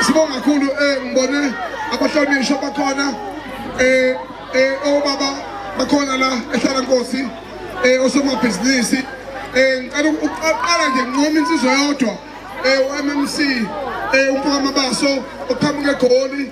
sibonga kakhulu eh ngibone abahlonishwa bakhona eh eh obaba bakhona la ehlala nkosi eh osomabhizinisi eh ngicela ukuqala nje nqoma insizwa yodwa eh uMMC eh umfaka mabaso oqhamuke egoli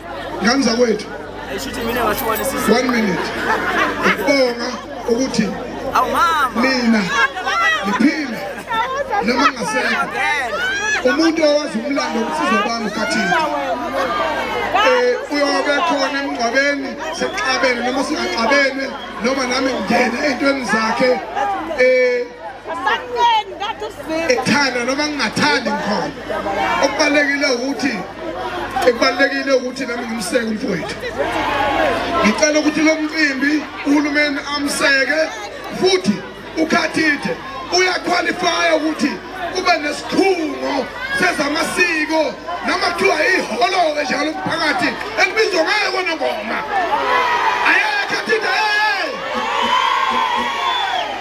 ngani zakwethu one minute ukubonga ukuthi mina ngiphile noma ngasekho umuntu owazi umlando ubusizo bami ukhathini uyobe khona emngcwabeni sixabene noma singaxabene noma nami ngingene ey'ntweni zakhe um ethanda noma ngingathandi ngikhona okubalulekile ukuthi ekubalulekile ukuthi nami ngimseke umfowethu ngicela ukuthi lo mcimbi uhulumeni amseke futhi ukhathithe uyakhwalifaya ukuthi kube nesikhungo sezamasiko noma kuthiwa iholo-ke njalo umphakathi elibizwa ngayo konongoma